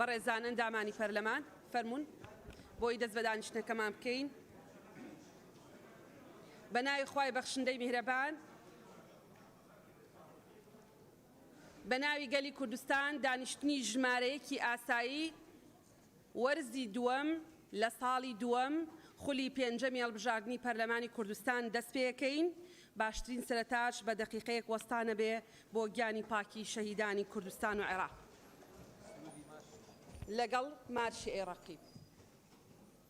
بەڕێزان ئەندامانی پەرلەمان فەرموون بۆی دەست بە دانیشتنەکەمان بکەین بە ناوی خوای بەخشندەی میهرەبان بە ناوی گەلی کوردستان دانیشتنی ژمارەیەکی ئاسایی وەرزی دووەم لە ساڵی دووەم خولی پێنجەمی هەڵبژاردنی پەرلەمانی کوردستان دەست پێەکەین، باشترین سەرتاچ بە دەقیقەیەک وەستانە بێ بۆ گیانی پاکی شەهیدانی کوردستان و عێراق. لەگەڵ مارشی ئەی ڕەقیب.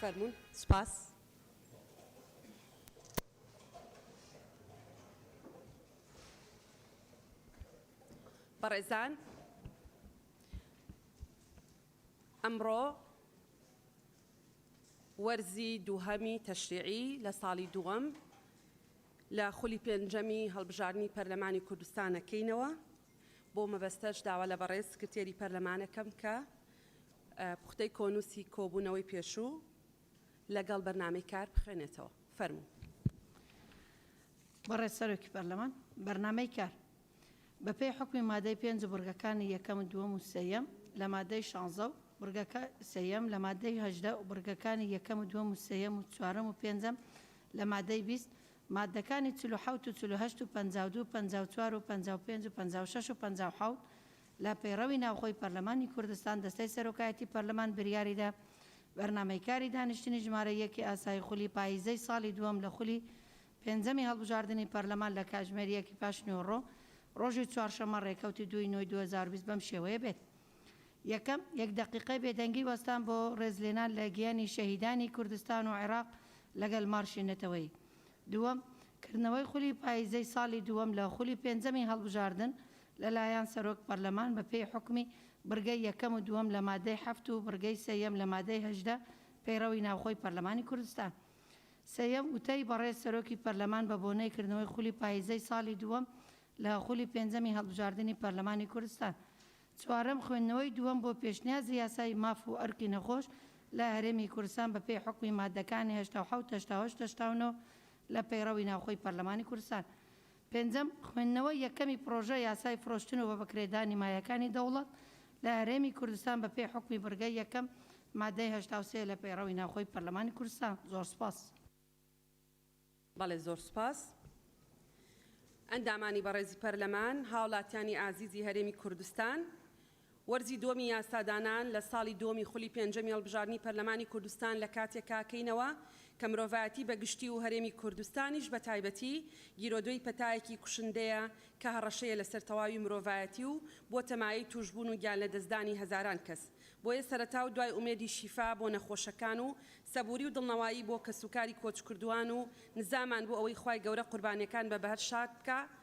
فەرموون سوپاس. بەڕێزان ئەمڕۆ وەرزی دووهەمی تەشریعی لە ساڵی دووەم لە خولی پێنجەمی هەڵبژاردنی پەرلەمانی کوردستان ئەکەینەوە، بۆ مەبەستەش داوا لە بەڕێز سکرتێری پەرلەمان ئەکەم کە پوختەی کۆنووسی کۆبوونەوەی پێشوو لەگەڵ بەرنامەی کار بخوێنێتەوە. فەرموو. بەڕێز سەرۆکی پەرلەمان، بەرنامەی کار بەپێی حوکمی مادەی پێنج و بڕگەکانی یەکەم و دووەم و سێیەم لە مادەی شانزە و بڕگەکە سێیەم لە مادەی هەژدە و بڕگەکانی یەکەم و دووەم و سێیەم و چوارەم و پێنجەم لە مادەی بیست مادەکانی چل و حەوت و چل و هەشت و پەنجا و دوو و پەنجا و چوار و پەنجا و پێنج و پەنجا و شەش و پەنجا و حەوت لە پەیڕەوی ناوخۆی پەرلەمانی کوردستان دەستەی سەرۆکایەتی پەرلەمان بریاری دا بەرنامەی کاری دانیشتنی ژمارە یەکی ئاسایی خولی پاییزەی ساڵی دووەم لە خولی پێنجەمی هەڵبژاردنی پەرلەمان لە کاژمێر یەکی پاش نیوەڕۆ ڕۆژی چوارشەممە ڕێکەوتی دوو ی نۆی دوو هەزار و بیست بەم شێوەیە بێت یەکەم، یەک دەقیقەی بێدەنگی وەستان بۆ ڕێزلێنان لە گیانی شەهیدانی کوردستان و عێراق لەگەل مارشی نەتەوەیی دووەم، کردنەوەی خولی پاییزەی ساڵی دووەم لە خولی پێنجەمی هەڵبژاردن لەلایەن سەرۆک پەرلەمان بەپێی حوکمی بڕگەی یەکەم و دووەم لە مادەی حەفت و بڕگەی سێیەم لە مادەی هەژدە پەیڕەوی ناوخۆی پەرلەمانی کوردستان. سێیەم، وتەی بەڕێز سەرۆکی پەرلەمان بە بۆنەی کردنەوەی خولی پاییزەی ساڵی دووەم لە خولی پێنجەمی هەڵبژاردنی پەرلەمانی کوردستان. چوارەم، خوێندنەوەی دووەم بۆ پێشنیازی یاسای ماف و ئەرکی نەخۆش لە هەرێمی کوردستان بە پێی حوکمی ماددەکانی هەشتا و حەوت، هەشتا و هەشت، هەشتا و نۆ لە پەیڕەوی ناوخۆی پەرلەمانی کوردستان. پێنجەم، خوێندنەوەی یەکەمی پڕۆژە یاسای فرۆشتن و بەبەکرێدانی مایەکانی دەوڵەت لە هەرێمی کوردستان بەپێی حوکمی بڕگەی یەکەم مادەی هەشتا و سێ لە پەیڕەوی ناوخۆی پەرلەمانی کوردستان. زۆر سپاس. بەڵێ زۆر سپاس. ئەندامانی بەڕێزی پەرلەمان، هاوڵاتیانی ئازیزی هەرێمی کوردستان، وەرزی دووەمی یاسادانان لە ساڵی دووەمی خولی پێنجەمی هەڵبژاردنی پەرلەمانی کوردستان لە کاتێکا کەینەوە کە مرۆڤایەتی بە گشتی و هەرێمی کوردستانیش بە تایبەتی گیرۆدەی پەتایەکی کوشندەیە کە هەڕەشەیە لەسەر تەواوی مرۆڤایەتی و بووەتە مایەی تووشبوون و گیانلەدەستدانی هەزاران کەس بۆیە سەرەتا و دوای ئومێدی شیفا بۆ نەخۆشەکان و سەبووری و دڵنەوایی بۆ کەسوکاری کۆچکردووان و نزامان بۆ ئەوەی خوای گەورە قوربانیەکان بە بەهەر شاد بکا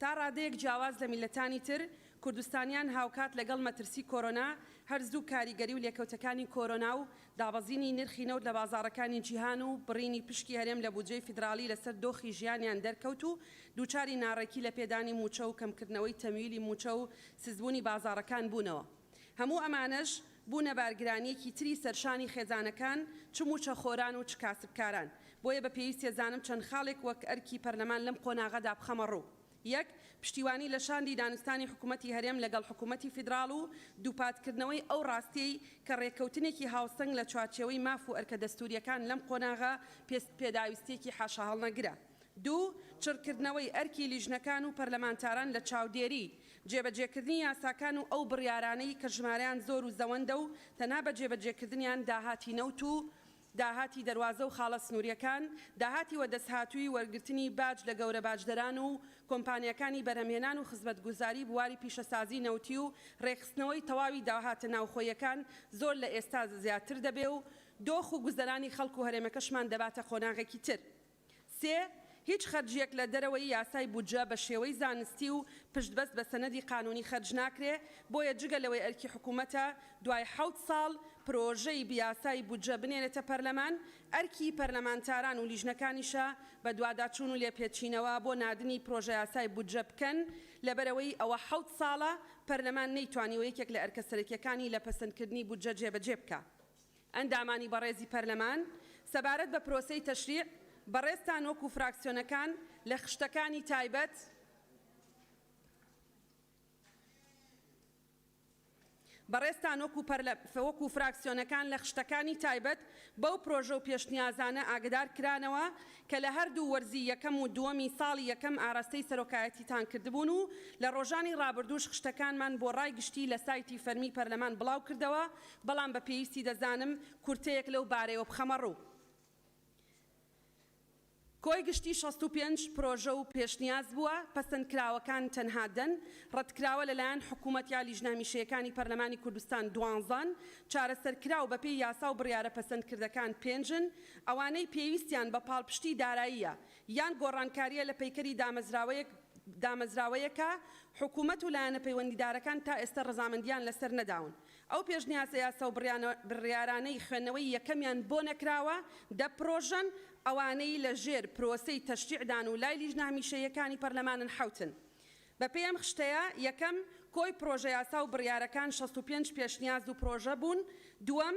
تا ڕادەیەک جیاواز لە میللەتانی تر، کوردستانیان هاوکات لەگەڵ مەترسی کۆرۆنا، هەر زوو کاریگەری و لێکەوتەکانی کۆرۆنا و دابەزینی نرخی نەوت لە بازاڕەکانی جیهان و بڕینی پشکی هەرێم لە بودجەی فیدراڵی لەسەر دۆخی ژیانیان دەرکەوت و دووچاری ناڕێکی لە پێدانی مووچە و کەمکردنەوەی تەمویلی مووچە و سستبوونی بازاڕەکان بوونەوە. هەموو ئەمانەش بوونە بارگرانیەکی تری سەرشانی خێزانەکان چ مووچەخۆران و چ کاسبکاران، بۆیە بە پێویستە زانم چەند خاڵێک وەک ئەرکی پەرلەمان لەم قۆناغەدا بخەمە ڕوو یەک پشتیوانی لە شاندی دانوستانی حکومەتی هەرێم لەگەڵ حکومەتی فیدراڵ و دووپاتکردنەوەی ئەو ڕاستیەی کە ڕێککەوتنێکی هاوسەنگ لە چوارچێوەی ماف و ئەرکە دەستوریەکان لەم قۆناغە پێداویستیەکی حاشاهەڵنەگرە. دوو، چڕکردنەوەی ئەرکی لیژنەکان و پەرلەمانتاران لە چاودێری جێبەجێکردنی یاساکان و ئەو بڕیارانەی کە ژمارەیان زۆر و زەوەندە و تەنها بە جێبەجێکردنیان داهاتی نەوت و داهاتی دەروازە و خاڵە سنوورییەکان، داهاتی وەدەستهاتووی وەرگرتنی باج لە گەورە باجدەران و کۆمپانیاکانی بەرهەمهێنان و خزمەتگوزاری بواری پیشەسازی نەوتی و رێکخستنەوەی تەواوی داهاتە ناوخۆییەکان زۆر لە ئێستا زیاتر دەبێ و دۆخ و گوزەرانی خەڵک و هەرێمەکەشمان دەباتە قۆناغێکی تر. سێ، هیچ خەرجییەک لە دەرەوەی یاسای بودجە بە شێوەی زانستی و پشتبەست بە سەنەدی قانونی خەرج ناکرێ، بۆیە جگە لەوەی ئەرکی حکوومەتە دوای حەوت ساڵ پرۆژەی یاسای بودجە بنێرێتە پەرلەمان، ئەرکی پەرلەمانتاران و لیژنەکانیشە بەدواداچوون و لێپێچینەوە بۆ ناردنی پرۆژەیاسای بودجە بکەن، لەبەرئەوەی ئەوە حەوت ساڵە پەرلەمان نەیتوانیوە یەکێک لە ئەرکە سەرەکییەکانی لە پەسەندکردنی بودجە جێبەجێ بکا. ئەندامانی بەڕێزی پەرلەمان، سەبارەت بە پرۆسەی تەشریع، بەڕێزتان وەکو فراکسیۆنەکان لە خشتەکانی تایبەت بەڕێزتان وەکو وەکو فراکسیۆنەکان لە خشتەکانی تایبەت بەو پرۆژە و پێشنیازانە ئاگەدار کرانەوە کە لە هەردوو وەرزی یەکەم و دووەمی ساڵی یەکەم ئاراستەی سەرۆکایەتیتان کردبوون و لە ڕۆژانی ڕابردووش خشتەکانمان بۆ ڕای گشتی لە سایتی فەرمی پەرلەمان بڵاو کردەوە بەڵام بە پێویستی دەزانم کورتەیەک لەو بارەیەوە بخەمە ڕوو. کۆی گشتی شەست و پێنج پرۆژە و پێشنیاز بووە، پەسەندکراوەکان تەنها دەن، ڕەتکراوە لەلایەن حکوومەت یا لیژنە هەمیشەیەکانی پەرلەمانی کوردستان دوانزەن، چارەسەرکراو بەپێی یاسا و بڕیارە پەسەندکردەکان پێنجن، ئەوانەی پێویستیان بە پاڵپشتی داراییە یان گۆڕانکارییە لە پەیکەری دامەزراوەیەک دامەزراوەیەکە، حکوومەت و لایەنە پەیوەندیدارەکان تا ئێستە ڕەزامەندییان لەسەر نەداون. ئەو پێشنیازە یاسا و بڕیارانەی خوێندنەوەی یەکەمیان بۆ نەکراوە، دە پرۆژەن، ئەوانەی لە ژێر پرۆسەی تەشریعدان و لای لیژنە هەمیشەییەکانی پەرلەمانن حەوتن. بە پێی ئەم خشتەیە، یەکەم، کۆی پرۆژە یاسا و بڕیارەکان شەست و پێنج پێشنیاز و پرۆژە بوون، دووەم،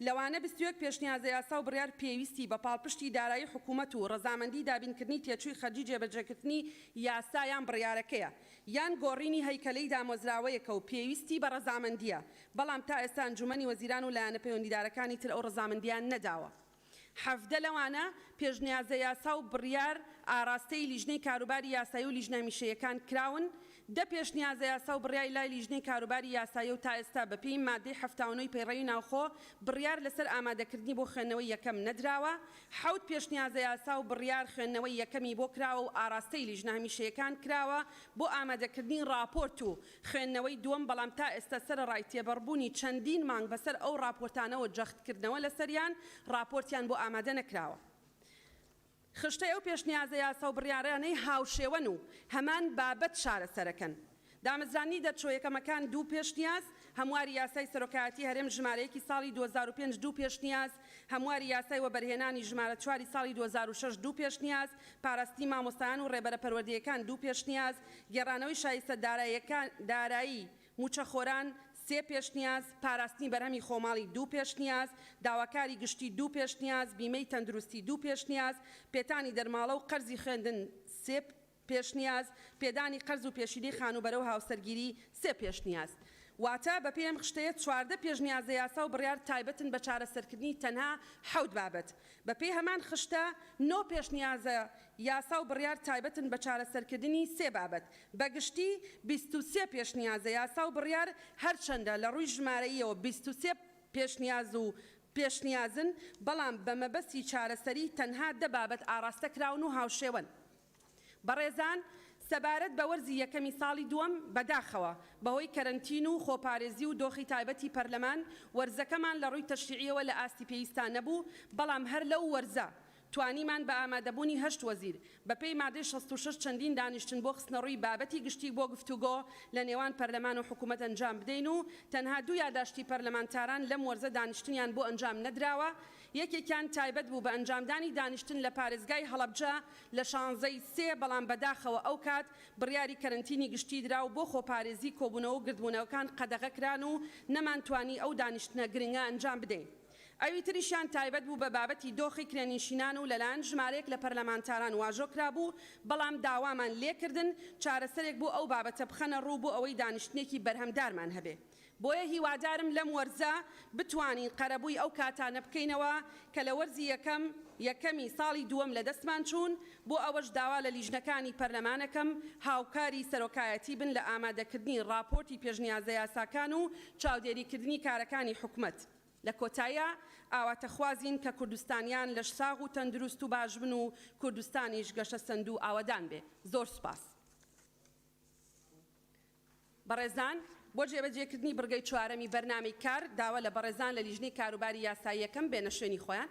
لەوانە بیست و یەک پێشنیازەیاسا و بڕیار پێویستی بە پاڵپشتی دارایی حکوومەت و ڕەزامەندی دابینکردنی تێچووی خەرجی جێبەجێکردنی یاسا یان بڕیارەکەیە، یان گۆڕینی هەیکەلەی دامۆزراوەیەکە و پێویستی بە ڕەزامەندییە، بەڵام تا ئێستا ئەنجوومەنی وەزیران و لایەنە پەیوەندیدارەکانی تر ئەو ڕەزامەندییان نەداوە. حەڤدە لەوانە پێشنیازەیاسا و بڕیار ئاراستەی لیژنەی کاروباری یاسایی و لیژنە هەمیشەییەکان کراون، دە پێشنیازەیاسا و بڕیای لای لیژنەی کاروباری یاساییە و تا ئێستا بە پێی ماددەی حەفتا و نۆ ی پەیڕەوی ناوخۆ بڕیار لە سەر ئامادەکردنی بۆ خوێندنەوەی یەکەم نەدراوە. حەوت پێشنیازەیاسا و بڕیار خوێندنەوەی یەکەمی بۆ کراوە و ئاڕاستەی لیژنە هەمیشەیەکان کراوە بۆ ئامادەکردنی ڕاپۆرت و خوێندنەوەی دووەم بەڵام تا ئێستا سەرەڕای تێبەڕبوونی چەندین مانگ بە سەر ئەو ڕاپۆرتانەوە جەختکردنەوە لە سەریان ڕاپۆرتیان بۆ ئامادە نەکراوە. خشتەی ئەو پێشنیازە یاسا و بڕیارانەی هاوشێوەن و هەمان بابەت چارەسەرەکەن. دامەزراندنی دەرچووە یەکەمەکان دوو پێشنیاز، هەمواری یاسای سەرۆکایەتی هەرێم ژمارە یەکی ساڵی دوو هەزار و پێنج دوو پێشنیاز، هەمواری یاسای وەبەرهێنانی ژمارە چواری ساڵی دوو هەزار و شەش دوو پێشنیاز، پاراستنی مامۆستایان و ڕێبەرە پەروەردەیەکان دوو پێشنیاز، گێڕانەوەی شایستە داراییەکان دارایی، مووچەخۆران، سێ پێشنیاز، پاراستنی بەرهەمی خۆماڵی، دوو پێشنیاز، داواکاری گشتی، دوو پێشنیاز، بیمەی تەندروستی، دوو پێشنیاز، پێتانی دەرماڵە و قەرزی خوێندن، سێ پێشنیاز، پێدانی قەرز و پێشینەی خانووبەرە و هاوسەرگیری، سێ پێشنیاز. واتە بەپێی ئەم خشتەیە چواردە پێشنیازە یاسا و بڕیار تایبەتن بە چارەسەرکردنی تەنها حەوت بابەت. بەپێی هەمان خشتە، نۆ پێشنیازە یاسا و بڕیار تایبەتن بە چارەسەرکردنی سێ بابەت. بە گشتی بیست و سێ پێشنیازە یاسا و بڕیار، هەرچەندە لە ڕووی ژمارەییەوە بیست و سێ پێشنیاز و پێشنیازن، بەڵام بە مەبەستی چارەسەری تەنها دە بابەت ئاڕاستە کراون و هاوشێوەن. بەڕێزان سەبارەت بە وەرزی یەکەمی ساڵی دووەم، بەداخەوە بەهۆی کەرەنتین و خۆپارێزی و دۆخی تایبەتی پەرلەمان، وەرزەکەمان لە ڕووی تەشریعییەوە لە ئاستی پێویستدا نەبوو، بەڵام هەر لەو وەرزە توانیمان بە ئامادەبوونی هەشت وەزیر، بەپێی مادەی شەست و شەش چەندین دانیشتن بۆ خستنەڕووی بابەتی گشتی بۆ گفتوگۆ لە نێوان پەرلەمان و حکوومەت ئەنجام بدەین و تەنها دوو یاداشتی پەرلەمانتاران لەم وەرزە دانیشتنیان بۆ ئەنجام نەدراوە یەکێکیان تایبەت بوو بە ئەنجامدانی دانیشتن لە پارێزگای هەڵەبجە لە شانزەی سێ بەڵام بەداخەوە ئەوکات بڕیاری کەرەنتینی گشتی درا و بۆ خۆپارێزی کۆبوونەوە و گردبوونەوەکان قەدەغە کران و نەمانتوانی ئەو دانیشتنە گرنگە ئەنجام بدەین. ئەوی تریشیان تایبەت بوو بە بابەتی دۆخی کرێنیشینان و لەلایەن ژمارەیەک لە پەرلەمانتاران واژۆ کرابوو، بەڵام داوامان لێکردن چارەسەرێک بۆ ئەو بابەتە بخەنە ڕوو بۆ ئەوەی دانیشتنێکی بەرهەمدارمان هەبێ. بۆیە هیوادارم لەم وەرزە بتوانین قەرەبووی ئەو کاتانە بکەینەوە کە لە وەرزی یەکەم، یەکەمی ساڵی دووەم لەدەستمان چوون، بۆ ئەوەش داوا لە لیژنەکانی پەرلەمانەکەم هاوکاری سەرۆکایەتی بن لە ئامادەکردنی ڕاپۆرتی پێشنیازە یاساکان و چاودێریکردنی کارەکانی حکومەت. لە کۆتاییا ئاواتەخوازین کە کوردستانیان لەشساغ و تەندروست و باشبن و کوردستانیش گەشەسەندوو ئاوەدان بێ. زۆر سوپاس بەڕێزان. بۆ جێبەجێکردنی بڕگەی چوارەمی بەرنامەی کار، داوا لە بەڕێزان لە لیژنەی کاروباری یاسایی یەکەم بێنە شوێنی خۆیان.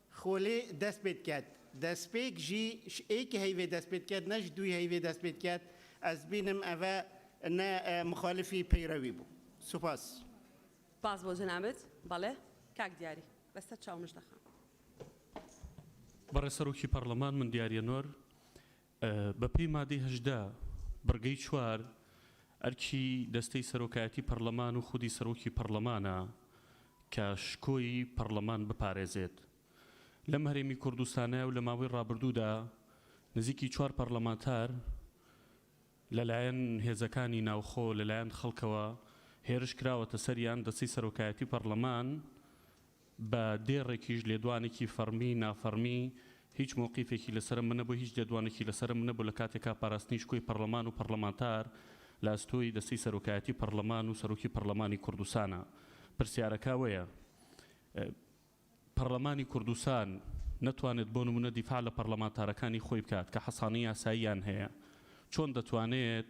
خولێ دەست پێت کەت دەسپێک ژی ش ئێک هەیڤێ دەست پێت کەت نە ژ دوی هەیڤێ دەست پێت کەت ئەز بینم ئەڤە نە مخالفی پەیڕەوی بوو. سوپاس. سپاس بۆ جەنابت. بەڵێ کاک دیاری. بە سەر چاو مژدە خان. بەڕێز سەرۆکی پەڕڵەمان من دیاریە نۆر بەپێی مادەی هەژدە بڕگەی چوار، ئەرکی دەستەی سەرۆکایەتی پەرلەمان و خودی سەرۆکی پەرلەمانە کە شکۆی پەرلەمان بپارێزێت. لەم هەرێمی کوردستانە و لە ماوەی ڕابردوودا نزیکی چوار پەرلەمانتار لەلایەن هێزەکانی ناوخۆ لەلایەن خەڵکەوە هێرش کراوەتە سەریان، دەستەی سەرۆکایەتی پەرلەمان بە دێڕێکیش لێدوانێکی فەڕمی، نافەڕمی، هیچ مەوقیفێکی لەسەرم نەبوو، هیچ لێدوانێکی لەسەرم نەبوو لە کاتێکا پاراستنی شکۆی پەڕڵەمان و پەڕڵەمانتار لە ئەستۆی دەستەی سەرۆکایەتی پەڕڵەمان و سەرۆکی پەڕڵەمانی کوردستانە. پرسیارەکا وەیە پەڕڵەمانی کوردستان نەتوانێت بۆ نموونە دیفاع لە پەڕڵەمانتارەکانی خۆی بکات کە حەسانەی یاساییان هەیە چۆن دەتوانێت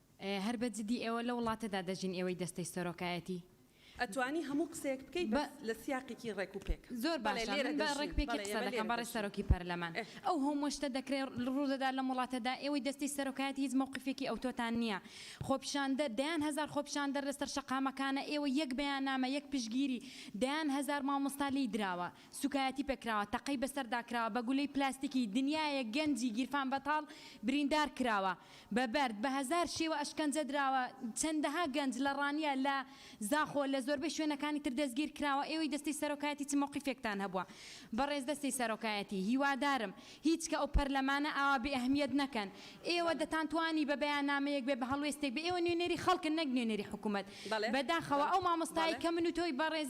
هەر بە جدی ئێوە لە وڵاتەدا دەژین ئێوەی دەستەی سەرۆکایەتی. ئەتوانی هەموو قسەیەک بکەی بەس لە سیاقێکی ڕێک و پێک. زۆر باشە من بە ڕێک پێکی قسە دەکەم بەڕێز سەرۆکی پەرلەمان ئەو هەمووە شتە دەکرێ ڕوودەدات لەم وڵاتەدا ئێوەی دەستەی سەرۆکایەتی هیچ مەوقیفێکی ئەوتۆتان نییە خۆپیشاندەر دەیان هەزار خۆپیشاندەر لەسەر شەقامەکانە ئێوە یەک بەیاننامە یەک پشتگیری دەیان هەزار مامۆستا لێی دراوە سوکایەتی پێکراوە تەقەی بەسەردا کراوە بە گولەی پلاستیکی دنیایەک گەنجی گیرفان بەتاڵ بریندار کراوە بە بەرد بە هەزار شێوە ئەشکەنجە دراوە چەندەها گەنج لە ڕانیە لە زاخۆ لە زۆربەی شوێنەکانی تر دەستگیر کراوە ئێوەی دەستەی سەرۆکایەتی چ مەوقیفێکتان هەبووە بەڕێز دەستەی سەرۆکایەتی هیوادارم هیچ کە ئەو پەرلەمانە ئاوا بێ ئەهمیەت نەکەن ئێوە دەتان توانی بە بەیانامەیەک بێ بە هەڵوێستێک بێ ئێوە نوێنەری خەڵکن نەک نوێنەری حکومەت بەداخەوە ئەو مامۆستایەی کە من و تۆی بەڕێز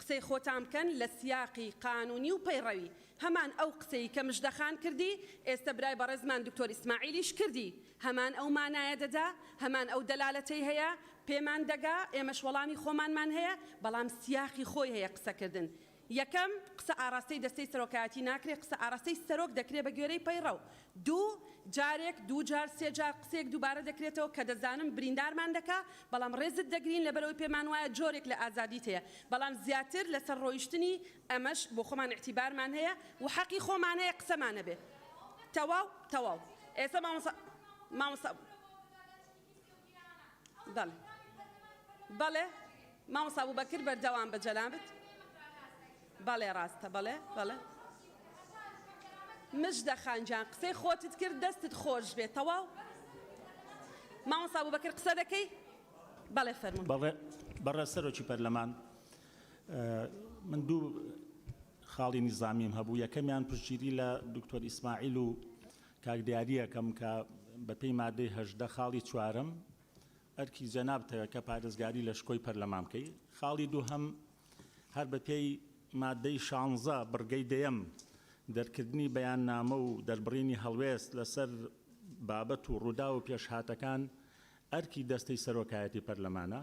قسەی خۆتان بکەن لە سیاقی قانونی و پەیڕەوی هەمان ئەو قسەی کە مژدە خان کردی ئێستە برای بەڕێزمان دکتۆر ئیسماعیلیش کردی هەمان ئەو مانایە دەدا هەمان ئەو دەلالەتەی هەیە پێمان دەگا ئێمەش وەڵامی خۆمانمان هەیە بەڵام سیاقی خۆی هەیە قسە کردن یەکەم قسە ئاڕاستەی دەستەی سەرۆکایەتی ناکرێ قسە ئاڕاستەی سەرۆک دەکرێ بە گوێرەی پەیڕەو دوو جارێک دوو جار سێ جار قسەیەک دووبارە دەکرێتەوە کە دەزانم بریندارمان دەکا بەڵام ڕێزت دەگرین لەبەرئەوەی پێمان وایە جۆرێک لە ئازادیت هەیە بەڵام زیاتر لەسەر ڕۆیشتنی ئەمەش بۆ خۆمان ئیعتیبارمان هەیە و حەقی خۆمان هەیە قسەمان نەبێ تەواو تەواو ئێستا مامۆستا مامۆستا بەڵێ بەڵێ مامۆستا بوبەکر بەردەوام بە جەنابت بەڵێ ڕاستە بەڵێ بەڵێ مژدە خانجان قسەی خۆتت کرد دەستت خۆش بێت تەواو مامۆستا بوبەکر قسە دەکەی بەڵێ فەرمون بەڵێ بەڕێ سەرۆکی پەرلەمان من دوو خاڵی نیزامیم هەبوو یەکەمیان پشتگیری لە دکتۆر ئیسماعیل و کاک دیاریەکەم کە بە پێی مادەی هەژدە خاڵی چوارەم ئەرکی جەنابتە کە پارێزگاری لە شکۆی پەرلەمان بکەی خاڵی دووهەم هەر بە پێی مادەی شانزە بڕگەی دەیەم دەرکردنی بەیاننامە و دەربڕینی هەڵوێست لە سەر بابەت و ڕووداو و پێشهاتەکان ئەرکی دەستەی سەرۆکایەتی پەرلەمانە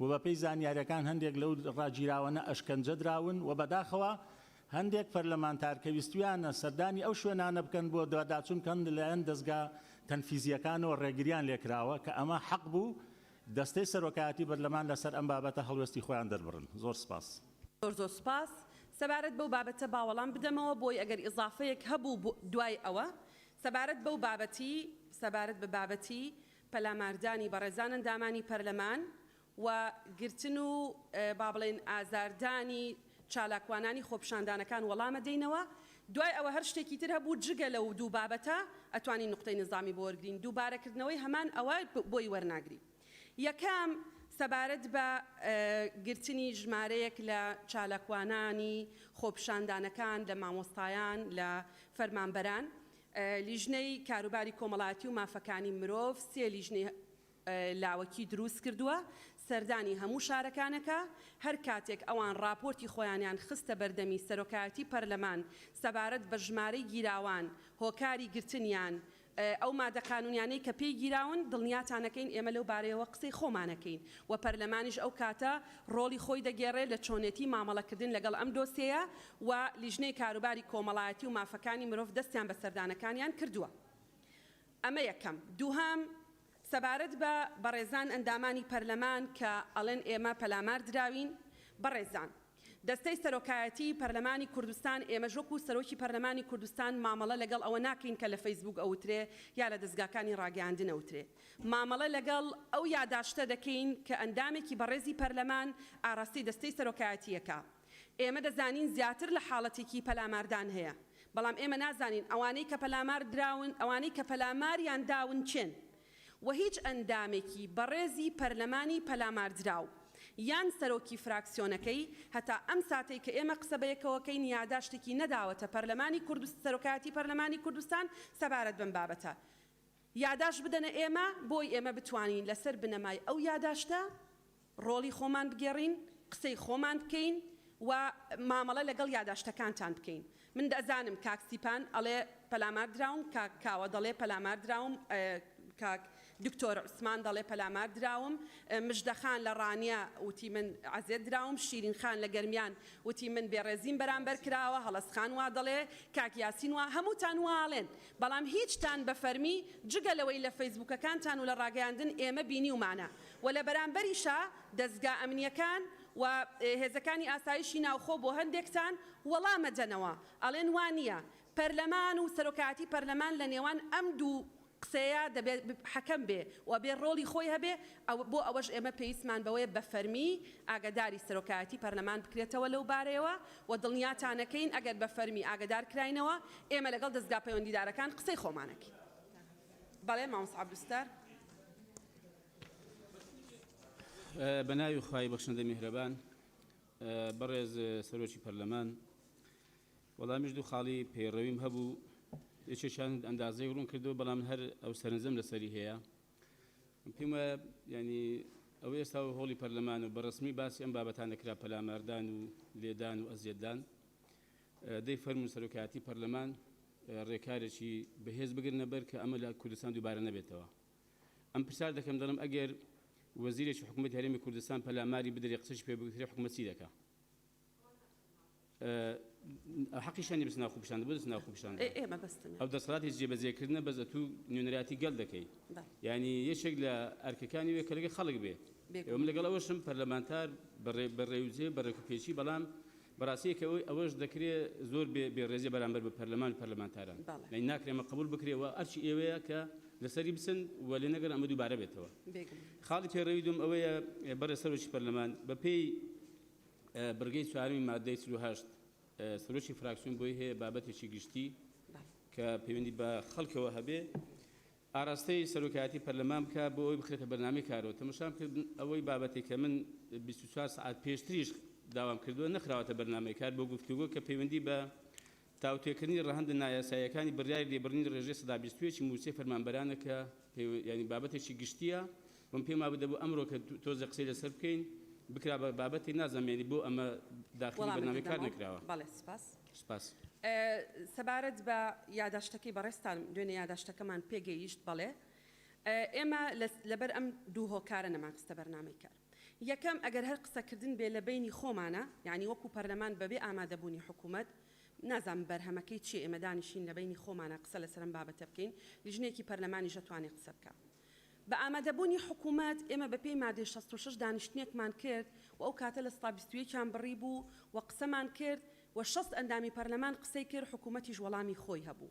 و بەپێی زانیاریەکان هەندێک لەو ڕاگیراوەنە ئەشکەنجە دراون و بەداخەوە هەندێک پەرلەمانتار کە ویستویانە سەردانی ئەو شوێنانە بکەن بۆ دواداچون کەن لەلایەن دەزگا تەنفیزیەکانەوە ڕێگریان لێکراوە کە ئەمە حەق بوو دەستەی سەرۆکایەتی بەرلەمان لەسەر ئەم بابەتە هەڵوێستی خۆیان دەربڕن زۆر سپاس. زۆر زۆر سپاس. سەبارەت بەو بابەتە با وەڵام بدەمەوە بۆی ئەگەر ئیزافەیەک هەبوو دوای ئەوە سەبارەت بەو بابەتی سەبارەت بە بابەتی پەلاماردانی بەڕێزان ئەندامانی پەرلەمان و گرتن و با بڵێین ئازاردانی چالاکوانانی خۆپیشاندانەکان وەڵامە دەینەوە دوای ئەوە هەر شتێکی تر هەبوو جگە لەو دوو بابەتە ئەتوانین نوقتەی نیزامی بۆ وەرگرین دووبارە کردنەوەی هەمان ئەوە بۆی وەرناگرین یەکەم سەبارەت بە گرتنی ژمارەیەک لە چالاکوانانی خۆپیشاندانەکان لە مامۆستایان لە فەرمانبەران لیژنەی کاروباری کۆمەڵایەتی و مافەکانی مرۆڤ سێ لیژنەی لاوەکی دروست کردووە سەردانی هەموو شارەکانەکە، هەر کاتێک ئەوان ڕاپۆرتی خۆیانیان خستە بەردەمی سەرۆکایەتی پەرلەمان سەبارەت بە ژمارەی گیراوان هۆکاری گرتنیان ئەو مادە قانونیانەی کە پێی گیراون دڵنیاتانەکەین ئێمە لەو بارەیەوە قسەی خۆمانەکەین و پەرلەمانیش ئەو کاتە ڕۆڵی خۆی دەگێڕێت لە چۆنێتی مامەڵەکردن لەگەڵ ئەم دۆسێیە و لیژنەی کاروباری کۆمەڵایەتی و مافەکانی مرۆڤ دەستیان بە سەردانەکانیان کردووە. ئەمە یەکەم. دووهەم، سەبارەت بە بەڕێزان ئەندامانی پەرلەمان کە ئەڵێن ئێمە پەلامار دراوین، بەڕێزان دەستەی سەرۆکایەتیی پەرلەمانی کوردستان ئێمەش وەکوو سەرۆکی پەرلەمانی کوردستان مامەڵە لەگەڵ ئەوە ناکەین کە لە فەیسبووک ئەوترێ یا لە دەزگاکانی ڕاگەیاندن ئەوترێ. مامەڵە لەگەڵ ئەو یاداشتە دەکەین کە ئەندامێکی بەڕێزی پەرلەمان ئاراستەی دەستەی سەرۆکایەتییەکە. ئێمە دەزانین زیاتر لە حاڵەتێکی پەلاماردان هەیە، بەڵام ئێمە نازانین ئەوانەی کە پەلامار دراون، ئەوانەی کە پەلاماریان داون کێن و هیچ ئەندامێکی بەڕێزی پەرلەمانی پەلاماردراو یان سەرۆکی فراکسیۆنەکەی هەتا ئەم ساتەی کە ئێمە قسە بەیەکەوەکەین یاداشتێکی نەداوەتە پەرلەمانی کوردستان، سەرۆکایەتی پەرلەمانی کوردستان سەبارەت بەم بابەتە. یاداشت بدەنە ئێمە بۆی ئێمە بتوانین لەسەر بنەمای ئەو یاداشتە ڕۆڵی خۆمان بگێڕین، قسەی خۆمان بکەین و مامەڵە لەگەڵ یاداشتەکانتان بکەین. من دەزانم کاک ستیپان ئەڵێ پەلامار دراوم، کاک کاوە دەڵێ پەلامار دراوم، کاک دکتۆر عوسمان دەڵێ پەلامار دراوم، مژدە خان لە ڕانیە وتی من عەزێت دراوم، شیرین خان لە گەرمیان وتی من بێڕێزیم بەرامبەر کراوە، هەڵەس خان وا دەڵێ، کاک یاسین وا، هەمووتان وا ئەڵێن، بەڵام هیچتان بە فەرمی جگە لەوەی لە فەیسبووکەکانتان و لە ڕاگەیاندن ئێمە بینیومانە و لە بەرامبەریشا دەزگا ئەمنیەکان و هێزەکانی ئاسایشی ناوخۆ بۆ هەندێکتان وەڵام ئەدەنەوە ئەڵێن وا نیە پەرلەمان و سەرۆکایەتی پەرلەمان لە نێوان ئەم دوو قسەیە دەبێ حەکەم بێ و ئەبێ ڕۆڵی خۆی هەبێ ئەوە بۆ ئەوەش ئێمە پێویستمان بەوەیە بە فەرمی ئاگەداری سەرۆکایەتی پەرلەمان بکرێتەوە لەو بارەیەوە و دڵنیاتانەکەین ئەگەر بە فەرمی ئاگەدار کراینەوە ئێمە لەگەڵ دەزگا پەیوەندیدارەکان قسەی خۆمانەکەین. بەڵێ مامۆستا عەبدولستار. بە ناوی خوای بەخشندە میهرەبان بەڕێز سەرۆکی پەرلەمان وەڵامیش دوو خاڵی پەیڕەویم هەبوو یەکێکیان ئەندازەی ڕوون کردەوە بەڵام هەر ئەو سەرنجەم لەسەری هەیە پێم وایە یانی ئەوەی ئێستا هۆڵی پەرلەمانە و بەڕسمی باسی ئەم بابەتانە کرا پەلاماردان و لێدان و ئەزیەتدان دەی فەرمو سەرۆکایەتی پەرلەمان ڕێکارێکی بەهێز بگرنە بەر کە ئەمە لە کوردستان دووبارە نەبێتەوە ئەم پرسیار دەکەم دەڵم ئەگەر وەزیرێکی حکوومەت هەرێمی کوردستان پەلاماری بدرێ قسەش پێ بگوترێ حکوومەت چی دەکا ئەو دەسەڵاتی جێبەجێ کردنە بەس ئەتوو نوێنەراتی گەل دەکەی یانی یەکێک لە ئەرکەکانی وێ کەلگە خەڵک بێ ئەوم لەگەڵ ئەوەشم پەرلەمانتار بەڕێوجێ بەڕێکو پێچی بەڵام بەڕاستەیەکە ئەوەی ئەوەش دەکرێ زۆر بێ بێڕێزی بەرامبەر بە پەرلەمان پەرلەمانتاران لەی ناکرێمە قبول بکرێەوە ئەرچی ئێوەیە کە لەسەری بسن و لێ نەگەر ئەمە دووبارە بێتەوە خاڵی پێڕەوی دوم ئەوەیە بەڕێ سەرۆکی پەرلەمان بەپێی بڕگەی چوارەمی ماددەی چل و هەشت سروشی فراکسیۆن بۆی هەیە بابەتێکی گشتی کە پەیوەندی بە خەڵکەوە هەبێ ئاراستەی سەرۆکایەتی پەرلەمان بکە بۆ ئەوی بخرێتە بەنامی کارەوە تەمەشام کرد ئەوەی بابەتی کە من 24 سعات پێشتریش داوام کردووە نەخراوەتە بەرنمەی کار بۆ گفتوگۆ کە پەیوەندی بە تاوتوێکردنی ڕەهەندە نایاساییەکانی بڕیاری لێبڕینی ڕێژەی سەدا بیست و یەکی مووچەی فەرمانبەرانە کە پەیوە بابەتێکی گشتییە وەم پێم وابوو دەبوو ئەمڕۆ کە تۆزێ قسەی لەسەر بکەین بکرا بە بابەتێک نازانم یانی بۆ ئەمە داخلی بەرنامەی کار نەکراوە. بەڵێ سپاس. سپاس. سەبارەت بە یاداشتەکەی بەڕێزتان دوێنێ یاداشتەکەمان پێگەیشت بەڵێ ئێمە لەبەر ئەم دوو هۆکارە نەمانخستە بەرنامەی کار. یەکەم، ئەگەر هەر قسەکردن بێ لە بەینی خۆمانا، یانی وەکو پەرلەمان بە بێ ئامادەبوونی حکوومەت، نازانم بەرهەمەکەی چیە ئێمە دانیشین لە بەینی خۆمانا قسە لەسەر ئەم بابەتە بکەین، لیژنەیەکی پەرلەمانیش ئەتوانێ قسە بکا بە ئامادەبوونی حکوومەت، ئێمە بە پێی مادەی شەست و شەش دانیشتنێکمان کرد و ئەو کاتە لە سەتا بیست و یەک یان بڕی بوو و قسەمان کرد و شەست ئەندامی پەرلەمان قسەی کرد، حکوومەتیش وەڵامی خۆی هەبوو.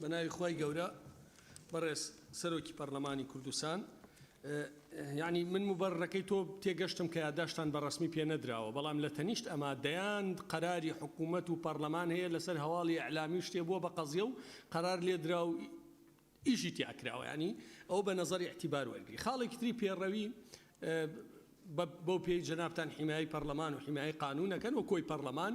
بە ناوی خوای گەورە بەڕێز سەرۆکی پەڕلەمانی کوردستان یعنی من مبەڕەکەی تۆ تێگەشتم کە یاداشتان بە ڕسمی پێ نەدراوە بەڵام لە تەنیشت ئەما دەیان قەراری حکوومەت و پەرلەمان هەیە لەسەر هەواڵی ئەلامی شتێ بووە بە قەزیە و قەرار لێدرا و ئیشی تیاکراوە ینی ئەو بە نظری احتیبار وەرگری خاڵێکی تری پێڕەوی بەو پێی جنابان حیمایی پەرلەمان و حیمایی قانونەکەن و کۆی پەرلەمان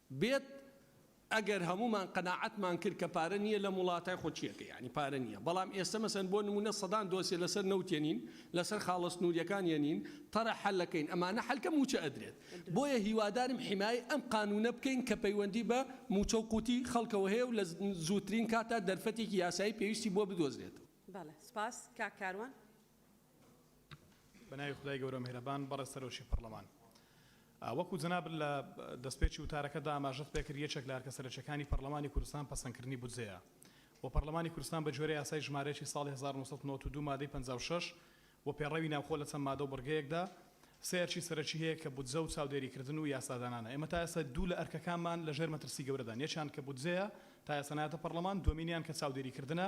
بێت ئەگەر هەموومان قەناعەتمان کرد کە پارە نییە لەم وڵاتە خۆ چیەکە یانی پارە نییە بەڵام ئێستە مەسەن بۆ نموونە سەدان دۆسیە لەسەر نەوت یەنین لەسەر خاڵە سنووریەکان یەنین تەڕە حەلەکەین ئەمانە حەل کە مووچە ئەدرێت بۆیە هیوادارم حیمایەی ئەم قانوونە بکەین کە پەیوەندی بە مووچە و قوتی خەڵکەوە هەیە و لە زووترین کاتا دەرفەتێکی یاسایی پێویستی بۆ بدۆزرێت. بەڵێ سپاس کاک کاروان. بەناوی خودای گەورە میهرەبان بەڕێز سەرۆکی پەڕلەمان. وەکو جەنابت لە دەستپێکی وتارەکەتدا ئاماژەت پێکرد یەکێک لە ئەرکە سەرەکیەکانی پەڕلەمانی کوردستان پەسەندکردنی بودجەیە و پەڕلەمانی کوردستان بە گوێرەی یاسای ژمارەیەکی ساڵی هەزار و نۆ سەد و نەوەد و دوو مادەی پەنجا و شەش و پێڕەوی ناوخۆ لە چەند مادە و بڕگەیەکدا سێ ئەرکی سەرەکی هەیە کە بودجە و چاودێریکردن و یاسادانانە ئێمە تا ئێستا دوو لە ئەرکەکانمان لەژێر مەترسی گەورەدان یەکیان کە بودجەیە تا ئێستا نایەتە پەڕلەمان دووەمینیان کە چاودێریکردنە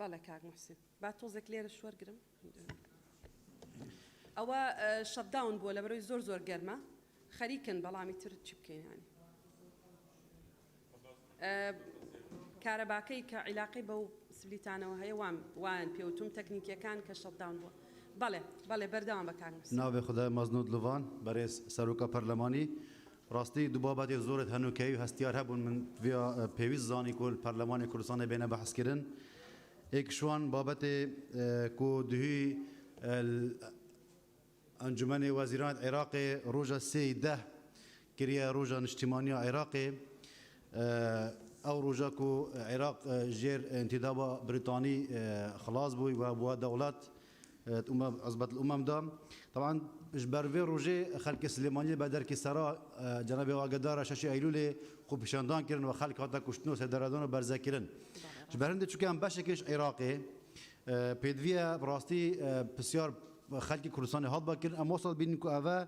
بەڵێ کاک محسن با تۆزێک لێرە شوەرگرم ئەوە شەداون بووە لە بەرەوەی زۆر زۆر گەرمە خەریکن بەڵامی تر چی بکەینانی کارەباکەی کە عیلاقی بەو سبلیتانەوە هەیە وام وان پێوتم تەکنیکیەکان کە شەداون بووە بەڵێ بەڵێ بەردەوام بەکار ناوێ خدای مەزنود لڤان بەرێز سەرۆکە پەرلەمانی ڕاستی دوو بابەتێ زۆرت هەنووکەیی و هەستیار هەبوون من ڤیا پێویست زانی کو پەرلەمانی کوردستانێ بێنە بەحس کرن ئێک شوان بابەتێ کو دهوی ئەنجومەنێ وەزیرانت عێراقێ ڕووژە سێ ی دە کریە ڕووژە نشتیمانیا عێراقێ ئەو ڕووژە کو عێراق ژێر ئنتیدابا بریتانی خڵاس بووی و بووە دەوڵەت عزبە الامم دا تەبعەن ژ بەرڤێ روژێ خەلکێ سلێمانیێ بە دەرکێ سەرا جەنابێ واگەدارا شەشی ئەیلولێ خوپیشاندان کرن وە خەلک هاتە کوشتن و سێدارەدان و بەرزە کرن ژ بەر هندێ چوکێان بەشێکێش عیراقێ پێدڤیە راستی پسیار خەلکی کوردستانێ هات بە کرن ئەم وەسەد بینن کو ئەڤە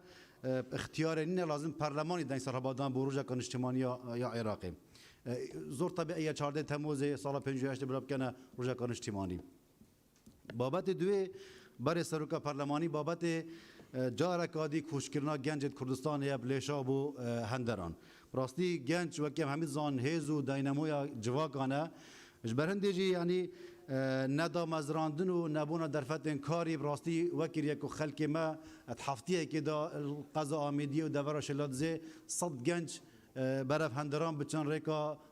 ئختیارێ نینە لازم پەرلەمانی دەنگ سەرهەبا دان بۆ روژەکا نیشتیمانیا یا عیراقێ زۆر تەبیعیە چاردەێ تەموزێ ساڵە پێنج و هەشتێ برا بکەنە روژەکا نیشتیمانی. بابەتێ دوێ، بەرێ سەرۆکە پەرلەمانی بابەتێ جارەکا دی کووچکردنا گەنجێد کوردستانێ یە بلێشا بۆ هەندەران. بڕاستی گەنج وەک یەم هەمی زان هێز و داینەمۆیا جڤاکانە. ژ بەرهندێ ژی یانی نە دامەزراندن و نە بوونا دەرفەتێن کاری بڕاستی وەکر یەک و خەلکێ مە ئەد هەفتیەکێ دا قەزا ئامێدیە و دەڤەرا شلادزێ سەد گەنج بەرەڤ هەندەران بچن رێکا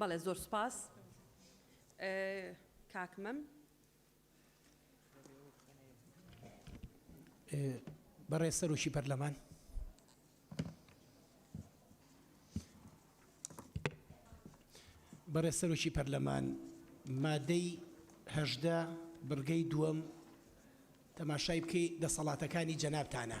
بەڵێ زۆر سوپاس کاک مەم. بەڕێز سەرۆکی پەرلەمان. بەڕێز سەرۆکی پەرلەمان مادەی هەژدە بڕگەی دووەم تەماشای بکەی دەسەڵاتەکانی جەنابتانە.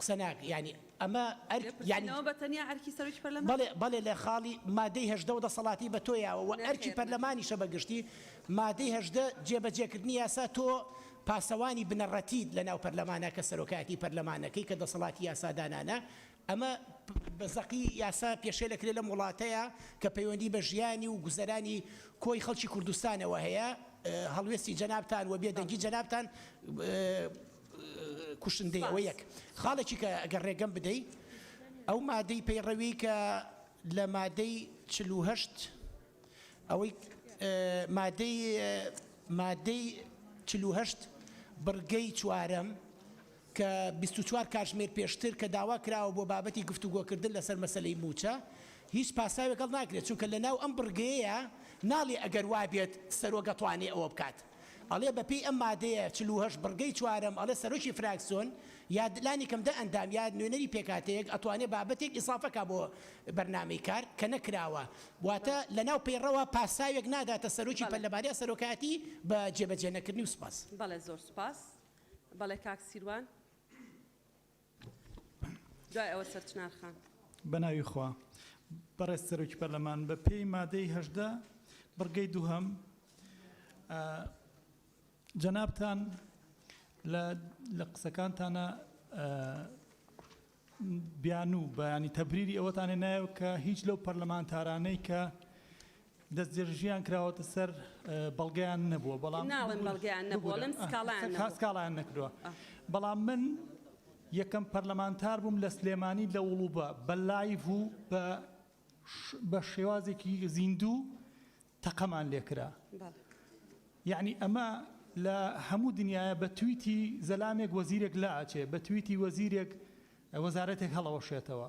قسە ناک یانی ئەمە ئەرک یانی. گرتنەوە بە تەنیا ئەرکی سەرۆکی پەرلەمان. بەڵێ بەڵێ لە خاڵی مادەی هەژدە و دەسەڵاتی بە تۆ یاوە وە ئەرکی پەرلەمانیشە بە گشتی مادەی هەژدە جێ بە جێ کردنی یاسا تۆ پاسەوانی بنەڕەتیت لە ناو پەرلەمانا کە سەرۆکایەتی پەرلەمانەکەی کە دەسەڵاتی یاسا دانانە ئەمە بە زەقی یاسا پێشێلە کرێ لەم وڵاتەیا کە پەیوەندی بە ژیانی و گوزەرانی کۆی خەڵکی کوردستانەوە هەیە هەڵوێستی جەنابتان وە بێدەنگی جەنابتان کوشندەیە وە یەک خاڵێکی کە گەر ڕێگەم بدەی ئەو مادەی پەیڕەوی کە لە مادەی چل و هەشت ئەوەی مادەی مادەی چل و هەشت بڕگەی چوارەم کە بیست و چوار کاتژمێر پێشتر کە داوا کراوە بۆ بابەتی گفتوگۆکردن لەسەر مەسلەی موچە هیچ پاساوێک هەڵ ناگرێت چونکە لەناو ئەم بڕگەیە ناڵێ ئەگەر وابێت سەرۆک ئەتوانێ ئەوە بکات ئەڵێ بە پێی ئەم مادەیە چل و هەشت بڕگەی چوارەم ئەڵێ سەرۆکی فراکسیۆن یا لانی کەم دە ئەندام یا نوێنەری پێکهاتەیەک ئەتوانێ بابەتێک ئیسافە کا بۆ بەرنامەی کار کە نەکراوە واتە لە ناو پەیڕەوە پاساوێک ناداتە سەرۆکی پە لە بارەی سەرۆکایەتی بە جێبەجێ نەکردنی و سوپاس. بەڵێ زۆر سوپاس بەڵێ کاک سیروان. دوای ئەوە سەر چنار خان. بەناوی خوا. بەڕێز سەرۆکی پەرلەمان، بە پێی مادەی هەژدە بڕگەی دووهەم، جەنابتان لە قسەکانتانا بیانوو، بەیانی تەبریری ئەوەتان هێنایەوە کە هیچ لەو پەرلەمانتارانەی کە دەستدرێژییان کراوەتە سەر، بەڵگەیان نەبووە، بەڵام. ناڵێم بەڵگەیان نەبووە، ئەڵێم سکاڵایان نەکردووە. ببورە، سکاڵایان نەکردووە. بەڵام من یەکەم پەرلەمانتار بووم لە سلێمانی لە وڵووبە بە لایڤ و بە بە شێوازێکی زیندوو تەقەمان لێ کرا. یەعنی ئەمە لە هەموو دنیایە بە تویتی زەلامێک وەزیرێک لا ئەچێ، بە تویتی وەزیرێک وەزارەتێک هەڵئەوەشێتەوە.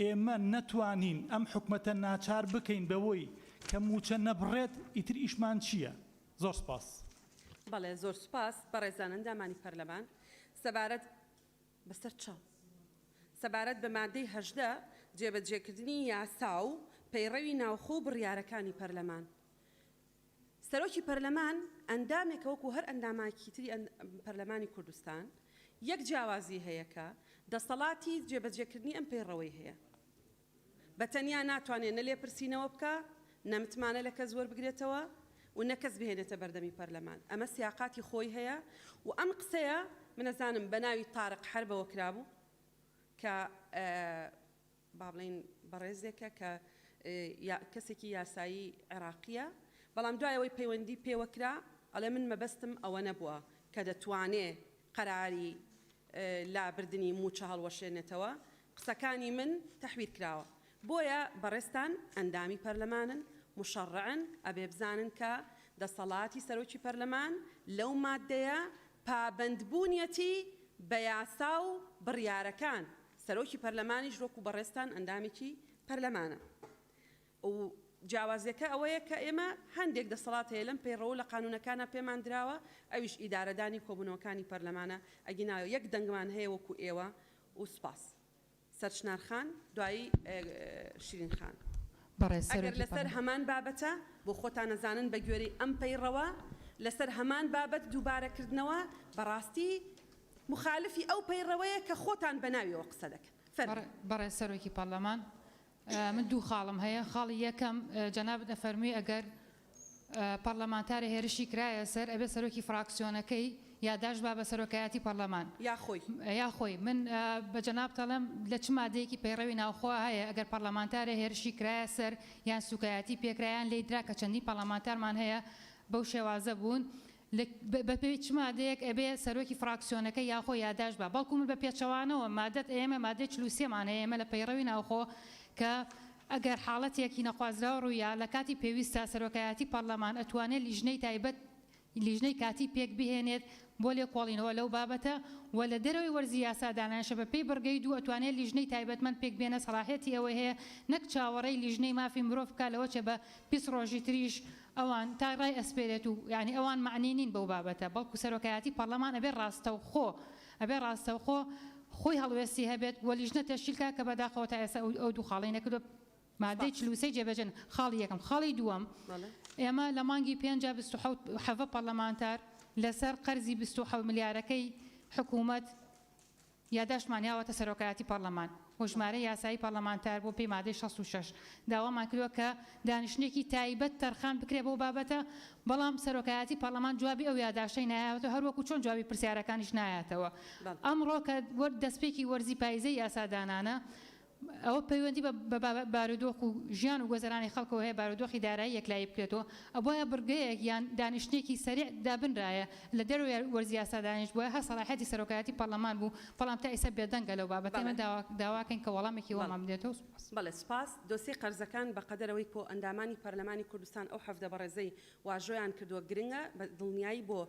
ئێمە نەتوانین ئەم حکومەتە ناچار بکەین بەوەی کە موچە نەبڕێت ئیتر ئیشمان چیە؟ زۆر سپاس. بەڵێ زۆر سوپاس بەڕێزان ئەندامانی پەرلەمان سەبارەت بەسەر چا سەبارەت بە مادەی هەژدە جێبەجێکردنی یاسا و پەیڕەوی ناوخۆ و بڕیارەکانی پەرلەمان، سەرۆکی پەرلەمان ئەندامێکە وەکو هەر ئەنداماکی تری پەرلەمانی کوردستان، یەک جیاوازی هەیە کە دەسەڵاتی جێبەجێکردنی ئەم پەیڕەوەی هەیە. بە تەنیا ناتوانێت نە لێپرسینەوە بکا، نە متمانە لە کەس وەربگرێتەوە و نە کەس بهێنێتە بەردەمی پەرلەمان. ئەمە سیاقاتی خۆی هەیە و ئەم قسەیە من ئەزانم بە ناوی تارق حەربەوە کرابوو کە با بڵێین بەڕێزێکە کە کەسێکی یاسایی عێراقییە، بەڵام دوای ئەوەی پەیوەندی پێوە کرا ئەڵێ من مەبەستم ئەوە نەبووە کە دەتوانێ قەراری لابردنی مووچە هەڵوەشێنێتەوە، قسەکانی من تەحویر کراوە. بۆیە بەڕێزتان ئەندامی پەرلەمانن، موشەڕعن، ئەبێ بزانن کە دەسەڵاتی سەرۆکی پەرلەمان لەو ماددەیە پابەندبوونیەتی بە یاسا و بڕیارەکان. سەرۆکی پەرلەمانیش وەکو بەڕێزتان ئەندامێکی پەرلەمانە و جیاوازیەکە ئەوەیە کە ئێمە هەندێک دەسەڵات هەیە لەم پەیڕەوو لە قانونەکانا پێمان دراوە ئەویش ئیدارەدانی کۆبونەوەکانی پەرلەمانە ئەگینا یەک دەنگمان هەیە وەکو ئێوە و سوپاس. سەر چنار خان دوایی شیرین خان. بەڕێز سەرۆکی پەرلەمان. ئەگەر لەسەر هەمان بابەتە بۆ خۆتان ئەزانن بەگوێرەی ئەم پەیڕەوە لەسەر هەمان بابەت دووبارە کردنەوە بەڕاستی مخالفی ئەو پەیڕەوەیە کە خۆتان بە ناویەوە قسە دەکەن. فەرموون. بەڕێز سەرۆکی پەڕلەمان من دوو خاڵم هەیە خاڵی یەکەم جەنابت ئەفەرموی ئەگەر پەڕلەمانتارێ هێرشی کرایە سەر ئەبێ سەرۆکی فڕاکسیۆنەکەی یاداشت با بە سەرۆکایەتی پەڕلەمان یا خۆی یا خۆی من بە جەنابت ئەڵێم لە چ مادەیەکی پەیڕەوی ناوخۆ هەیە ئەگەر پەڕلەمانتارێ هێرشی کرایە سەر یان سوکایەتی پێکرا یان لێی درا کە چەندین پەڕلەمانتارمان هەیە بەو شێوازە بوون لە بە پێی چ مادەیەک ئەبێ سەرۆکی فراکسیۆنەکە یاخۆ یاداشت با بەڵکو من بە پێچەوانەوە مادەت ئەیەمە مادەی چل و سێ مان هەیە ئێمە لە پەیڕەوی ناوخۆ کە ئەگەر حاڵەتێکی نەخوازراو ڕوویا لە کاتی پێویستدا سەرۆکایەتی پارلەمان ئەتوانێت لیژنەی تایبەت لیژنەی کاتی پێک بهێنێت بۆ لێکۆڵینەوە لەو بابەتە وە لە دەرەوەی وەرزی یاسا دانانشە بە پێی بڕگەی دوو ئەتوانێت لیژنەی تایبەتمەند پێک بێنە سەڵاحیەتی ئەوەی هەیە نەک چاوەڕێی لیژنەی مافی مرۆڤ بکات لەوەچێ بە بیست ڕۆژی تریش ئەوان تا رای ئەسپێرێت و یانی ئەوان مەعنی نین بەو بابەتە بەڵکو سەرۆکایەتی پەڕلەمان ئەبێ راستەوخۆ ئەبێ راستەوخۆ خۆی هەڵوێستی هەبێت و لیژنە تەشکیل کات کە بەداخەوە تا ئێستا ئەو دوو خاڵەی نەکردوە مادەی چل و سێ جێبەجێ نە خاڵی یەکەم خاڵی دووەم ئێمە لە مانگی پێنجا بیست و حەوت حەڤە پەڕلەمانتار لەسەر قەرزی بیست و حەوت ملیارەکەی حکوومەت یاداشتمان یاوەتە سەرۆکایەتی پەڕلەمان و ژمارەی یاسایی پەڕلەمانتار بوون پێی مادەی شەست و شەش داوامان کردوە کە دانیشتنێکی تایبەت تەرخان بکرێت بەو بابەتە بەڵام سەرۆکایەتی پەڕلەمان جوابی ئەو یاداشتەی نایەوەتەوە هەروەکو چۆن جوابی پرسیارەکانیش نایاتەوە ئەمڕۆ کە دەستپێکی وەرزی پایزەی یاسادانانە ئەوە پەیوەندی بە بارودۆخ و ژیان و گۆزەرانی خەڵکەوە هەیە بارودۆخی دارایی یەکلایی بکرێتەوە ئەبوایە بڕگەیەک یان دانیشتنێکی سەریع دابنرایە لە دەرەوەی وەرزی یاسا دانیشتبوایە هەر سەڵاحیەتی سەرۆکایەتی پەڕلەمان بوو بەڵام تا ئیستا بێدەنگە لەو بابەتە ئێمە داواکەین کە وەڵامێکی وامان بدێتەوە سوپاس. بەڵێ سوپاس، دۆسیەی قەرزەکان بە قەدەر ئەوەی کۆئەندامانی پەرلەمانی کوردستان ئەو حەڤدە بەڕێزەی واژۆیان کردووە گرنگە بە دڵنیایی بۆ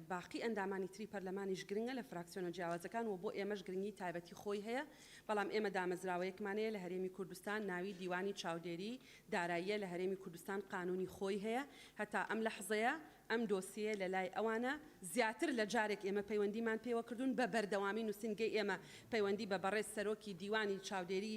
باقی ئەندامانی تری پەرلەمانیش گرنگە لە فراکسیۆنە جیاوازەکان و بۆ ئێمەش گرنگی تایبەتی خۆی هەیە، بەڵام ئێمە دامەزراوەیەکمان هەیە لە هەرێمی کوردستان ناوی دیوانی چاودێری داراییە لە هەرێمی کوردستان قانونی خۆی هەیە هەتا ئەم لەحزەیە ئەم دۆسیەیە لە لای ئەوانە زیاتر لە جارێک ئێمە پەیوەندیمان پێوە کردوون بە بەردەوامی نوسینگەی ئێمە پەیوەندی بە بەڕێز سەرۆکی دیوانی چاودێری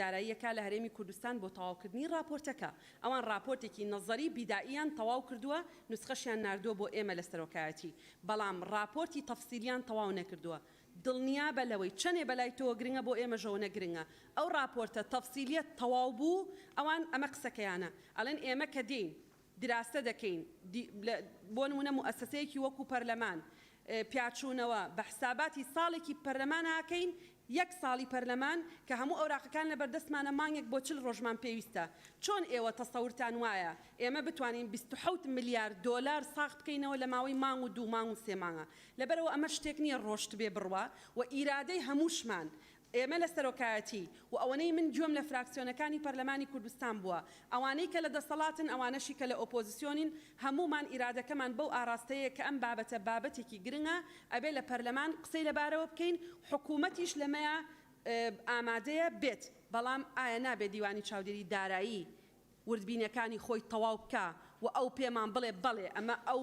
داراییە کا لە هەرێمی کوردستان بۆ تەواوکردنی ڕاپۆرتەکە ئەوان ڕاپۆرتێکی نەزەری بیدائیان تەواو کردووە نوسخەشیان ناردووە بۆ ئێمە لە سەرۆکایەتی، بەڵام ڕاپۆرتی تەفسیلیان تەواو نەکردووە. دڵنیابە لەوەی چەنێ بەلای تۆوە گرنگە بۆ ئێمەژەوەنە گرنگە. ئەو ڕاپۆرتە تەفسیلیە تەواو بوو ئەوان ئەمە قسەکەیانە ئەڵێن ئێمە کە دێین دراسە دەکەین بۆ نمونە موئەسەسەیەکی وەکو پەرلەمان پیاچونەوە بە حساباتی ساڵێکی پەرلەماناکەین یەک ساڵی پەرلەمان کە هەموو ئەوراقەکان لەبەردەستمانە مانگێک بۆ چل ڕۆژمان پێویستە چۆن ئێوە تەسەورتان وایە ئێمە بتوانین بیست و حەوت ملیار دۆلار ساغ بکەینەوە لە ماوەی مانگ و دوو مانگ و سێ مانگا لەبەرئەوە ئەمە شتێک نیە ڕۆشتبێ بڕوا و ئیرادەی هەمووشمان ئێمە لە سەرۆکایەتی و ئەوەنەی من گوێم لە فراکسیۆنەکانی پەرلەمانی کوردستان بووە ئەوانەی کە لە دەسەڵاتن، ئەوانەشی کە لە ئۆپۆزسیۆنین، هەموومان ئیرادەکەمان بەو ئاڕاستەیەیە کە ئەم بابەتە بابەتێکی گرنگە، ئەبێ لە پەرلەمان قسەی لەبارەوە بکەین، حکوومەتیش لەمەیا ئامادەیە بێت، بەڵام ئایا نابێ دیوانی چاودێریی دارایی وردبینەکانی خۆی تەواو بکا و ئەو پێمان بڵێ بەڵێ ئەمە ئەو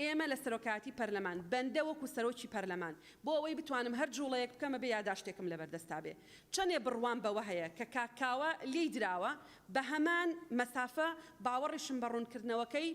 ئێمە لە سەرۆکایەتی پەرلەمان بەندە وەکو سەرۆکی پەرلەمان بۆ ئەوەی بتوانم هەر جوڵەیەک بکەم ئەبێ یاداشتێکم لەبەردەستا بێ چەنێ بڕوام بەوە هەیە کە کاک کاوە لێی دراوە بەهەمان مەسافە باوەڕیشم بە ڕوونکردنەوەکەی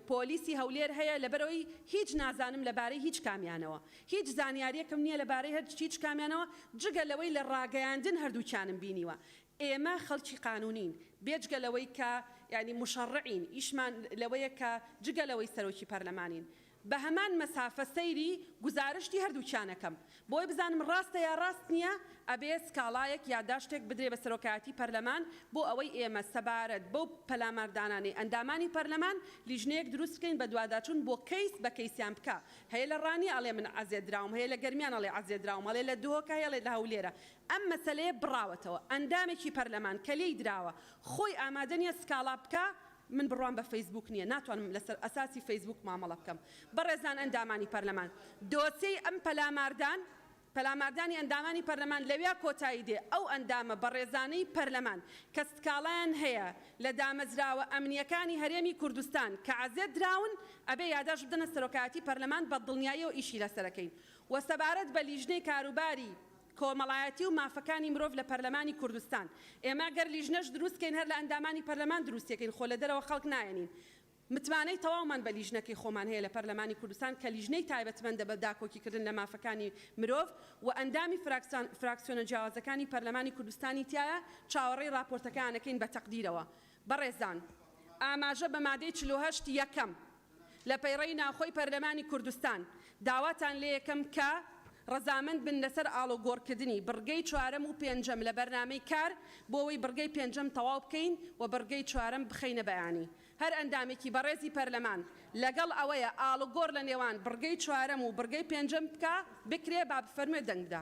پۆلیسی هەولێر هەیە لەبەرئەوەی هیچ نازانم لەبارەی هیچ کامیانەوە هیچ زانیاریەکم نیە لەبارەی هیچ کامیانەوە جگە لەوەی لە ڕاگەیاندن هەردووکیانم بینیوە ئێمە خەڵکی قانونین بێجگە لەوەی کە یانی موشەڕعین ئیشمان لەوەیە کە جگە لەوەی سەرۆکی پەرلەمانین بە هەمان مەسافە سەیری گوزارشتی هەردووکیان ئەکەم بۆی بزانم ڕاستە یا ڕاست نیە ئەبێ سکاڵایەک یاداشتێک بدرێ بە سەرۆکایەتی پەرلەمان بۆ ئەوەی ئێمە سەبارەت بەو پەلاماردانانەی ئەندامانی پەرلەمان لیژنەیەک دروست بکەین بەدواداچون بۆ کەیس بە کەیسیان بکا هەیە لە ڕانیە ئەڵێ من عەزێت دراوم هەیە لە گەرمیان ئەڵێ عەزێت دراوم ئەڵێ لە دهۆکە هەیە ئەڵێ لە هەولێرە ئەم مەسەلەیە بڕاوەتەوە ئەندامێکی پەرلەمان کە لێی دراوە خۆی ئامادە نیە سکاڵا بکا، من بڕوام بە فەیسبووک نیە ناتوانم لەسەر ئەساسی فەیسبووک مامەڵە بکەم. بەڕێزان ئەندامانی پەرلەمان دۆسێی ئەم پەلاماردان پەلاماردانی ئەندامانی پەرلەمان لەویا کۆتایی دێ، ئەو ئەندامە بەڕێزانەی پەرلەمان کە سکاڵایان هەیە لە دامەزراوە ئەمنیەکانی هەرێمی کوردستان کە عەزێت دراون ئەبێ یاداشت بدەنە سەرۆکایەتی پەرلەمان بە دڵنیایەوە ئیشی لەسەرەکەین و سەبارەت بە لیژنەی کاروباری کۆمەڵایەتی و مافەکانی مرۆڤ لە پەرلەمانی کوردستان ئێمە گەر لیژنەش دروست کەین هەر لە ئەندامانی پەرلەمان دروستی ئەکەین خۆ لە دەرەوە خەڵک نایەنین متمانەی تەواومان بە لیژنەکەی خۆمان هەیە لە پەرلەمانی کوردستان کە لیژنەی تایبەتمەندە بە داکۆکی کردن لە مافەکانی مرۆڤ و ئەندامی فراکسان فراکسیۆنە جیاوازەکانی پەرلەمانی کوردستانی تیایە چاوەڕێی ڕاپۆرتەکەیان ئەکەین بە تەقدیرەوە بەڕێزان ئاماژە بە مادەی چل و هەشت یەکەم. لە پەیڕەی ناوخۆی پەرلەمانی کوردستان داواتان لێیەکەم کە ڕەزامەند بن لەسەر ئاڵوگۆڕکردنی بڕگەی چوارەم و پێنجەم لە بەرنامەی کار بۆوەی بڕگەی پێنجەم تەواو بکەین و بڕگەی چوارەم بخەینە بەیانی هەر ئەندامێکی بەڕێزی پەرلەمان لەگەڵ ئەوەیە ئاڵوگۆڕ لە نێوان بڕگەی چوارەم و بڕگەی پێنجەم بکا بکرێ با بفەرموێ دەنگ بدا.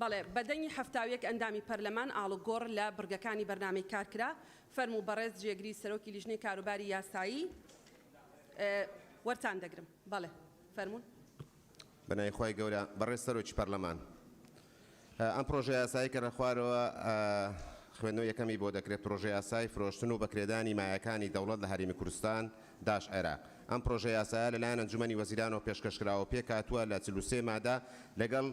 بەڵێ، بە دەنگی حەفتا و یەک ئەندامی پەرلەمان ئاڵوگۆڕ لە بڕگەکانی بەرنامەی کار کرا. فەرموو بەڕێز جێگری سەرۆکی لیژنەی کاروباری یاسایی وەرتان دەگرم. بەڵێ فەرموون. بەناوی خوای گەورە بەڕێز سەرۆکی پەرلەمان. ئەم پرۆژە یاسایەی کە لە خوارەوە خوێندنەوەی یەکەمی بۆ دەکرێت، پرۆژە یاسای فرۆشتن و بەکرێدانی مایەکانی دەوڵەت لە هەرێمی کوردستان، داش عێراق. ئەم پرۆژە یاسایە لەلایەن ئەنجومەنی وەزیرانەوە پێشکەش کرا و پێکهاتووە لە چل و سێ مادە لەگەڵ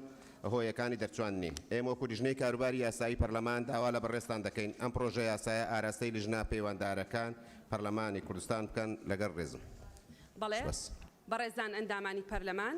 هۆیەکانی دەرچواندنی. ئێمە وەکو لیژنەی کاروباری یاسایی پەرلەمان داوا لە بەڕێزتان دەکەین ئەم پرۆژە یاسایە ئاراستەی لیژنە پەیوەندارەکان پەرلەمانی کوردستان بکەن. لەگەڵ ڕێزم. بەڵێ. سپاس. بەڕێزان ئەندامانی پەرلەمان.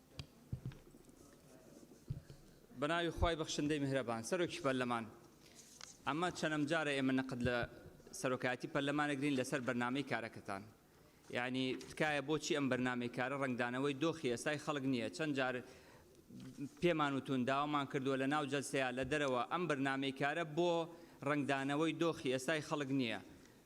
بەناوی خی بەخشندەی میهرەبان سەرۆکی پەرلەمان ئەمە چەنەم جارە ئێمە نەقد لە سەرۆکایەتی پەرلەمانەگرین لەسەر بەرنمەی کارەکەتان یعنی تکایە بۆچی ئەم بەرنمەی کارە ڕنگدانەوەی دۆخی ئێستای خەڵک نییە چەند جار پێمان وتون داوامان کردووە لە ناو جەلسەیە لە دەرەوە ئەم بەرنمەی کارە بۆ ڕنگدانەوەی دۆخی ئێستای خەڵک نییە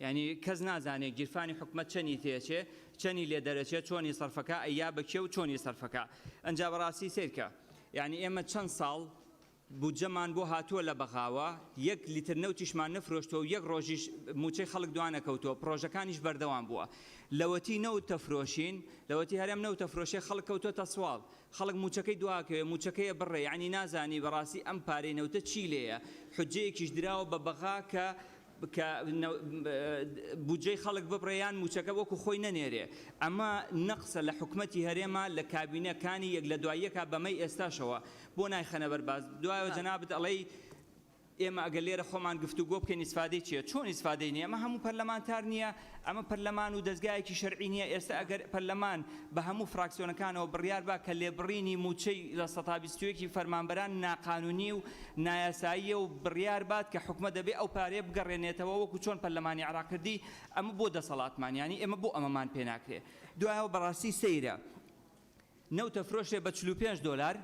یانی کەس نازانێ گیرفانی حکومەت چەنی تێچێ چەنی لێ دەرەچێ چۆنی سەرفەکا ئەی یا بە کێ و چۆنی سەرفەکا ئەنجا بەڕاستی سەیرکە یانی ئێمە چەند ساڵ بودجەمان بۆ هاتووە لە بەغاوە یەک لیتر نەوتیشمان نەفرۆشتوە و یەک ڕۆژیش موچەی خەڵک دوانەکەوتووە پرۆژەکانیش بەردەوام بووە لەوەتی نەوت تەفرۆشین لەوەتی هەرێم نەوت تەفرۆشێ خەڵک کەوتوە تەسواڵ خەڵک موچەکەی دواکەوێ موچەکەیە بڕێ ینی نازانی بەڕاستی ئەم پارەی نەوتە چی لێیە حجەیەکیش دراوە بە بەغا کە کە بودجەی خەڵک ببڕێ یان مووچەکە وەکو خۆی نەنێرێ ئەمە نەقسە لە حکومەتی هەرێما لە کابینە کانی یەک لە دوای یەکا بەمەی ئێستاشەوە بۆ نایخەنە بەر باس دوایەوە جەنابت ئەڵێی ئێمە ئەگەر لێرە خۆمان گفتوگۆ بکەین ئیسفادەی چیە چۆن ئیسفادەی نیە ئەمە هەموو پەرلەمانتار نیە ئەمە پەرلەمان و دەزگایەکی شەرعی نیە، ئێستا ئەگەر پەرلەمان بە هەموو فراکسیۆنەکانەوە بڕیار با کە لێبڕینی مووچەی لە سەتا بیست و یەک فەرمانبەران ناقانونی و نایاساییە و بڕیار بات کە حکومەت دەبێ ئەو پارەیە بگەڕێنێتەوە وەکو چۆن پەرلەمانی عێراق کردی ئەمە بۆ دەسەڵاتمان یانی ئێمە بۆ ئەمەمان پێ ناکرێ دوایەوە بەڕاستی سەیرە نەوتە فرۆشرێ بە چل و پێنج دۆلار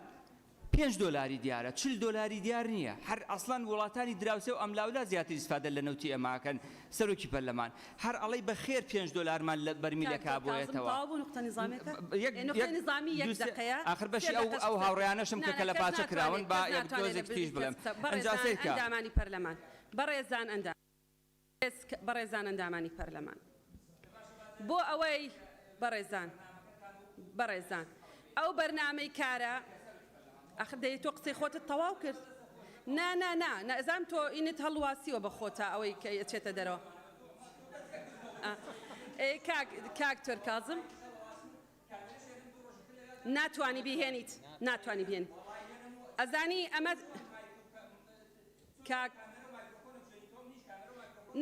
پێنج دۆلاری دیارە چل دۆلاری دیار نیە هەر ئەسڵەن وڵاتانی دراوسێ و ئەملاولا زیاتر ئیسفادە لە نەوتی ئێمە ئەکەن سەرۆکی پەرلەمان هەر ئەڵی بە خێر پێنج دۆلارمان لە بەرمیلەک ئابۆیەتەوە ئاخر بەشی ئەو ئەو هاوڕێیانەشم کە کەلە پاچە کراون با یەک دۆزێک تریش بڵێم ئەنجا سەیرکە. ئێسک بەڕێزان ئەندامانی پەرلەمان بۆ ئەوەی بەڕێزان بەڕێزان ئەو بەرنامەی کارە ئەخ دەی تۆ قسەی خۆتت تەواو کرد نا نا نا نەزان تۆ ئینت هەڵواسیوە بە خۆتا ئەوەی کە ئەچێتە دەرەوە ئا ئێ کاک کاک تۆر کازم ناتوانی بیهێنیت ناتوانی بێن ئەزانی ئەمە کاک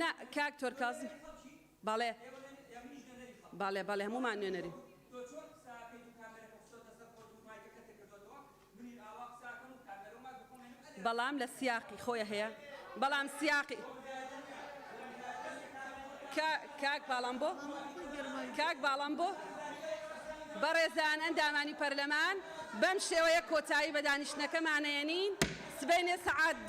نا کاک تۆر کازم بەڵێ بەڵێ بەڵێ هەموومان نوێنەری بەڵام لە سیاقی خۆی هەیە بەڵام سیاقی کاک باڵام بۆ کاک باڵام بۆ بەڕێزان ئەندامانی پەرلەمان بەم شێوەیە کۆتایی بە دانیشتنەکەمانەیەنین سبەینێ سەعات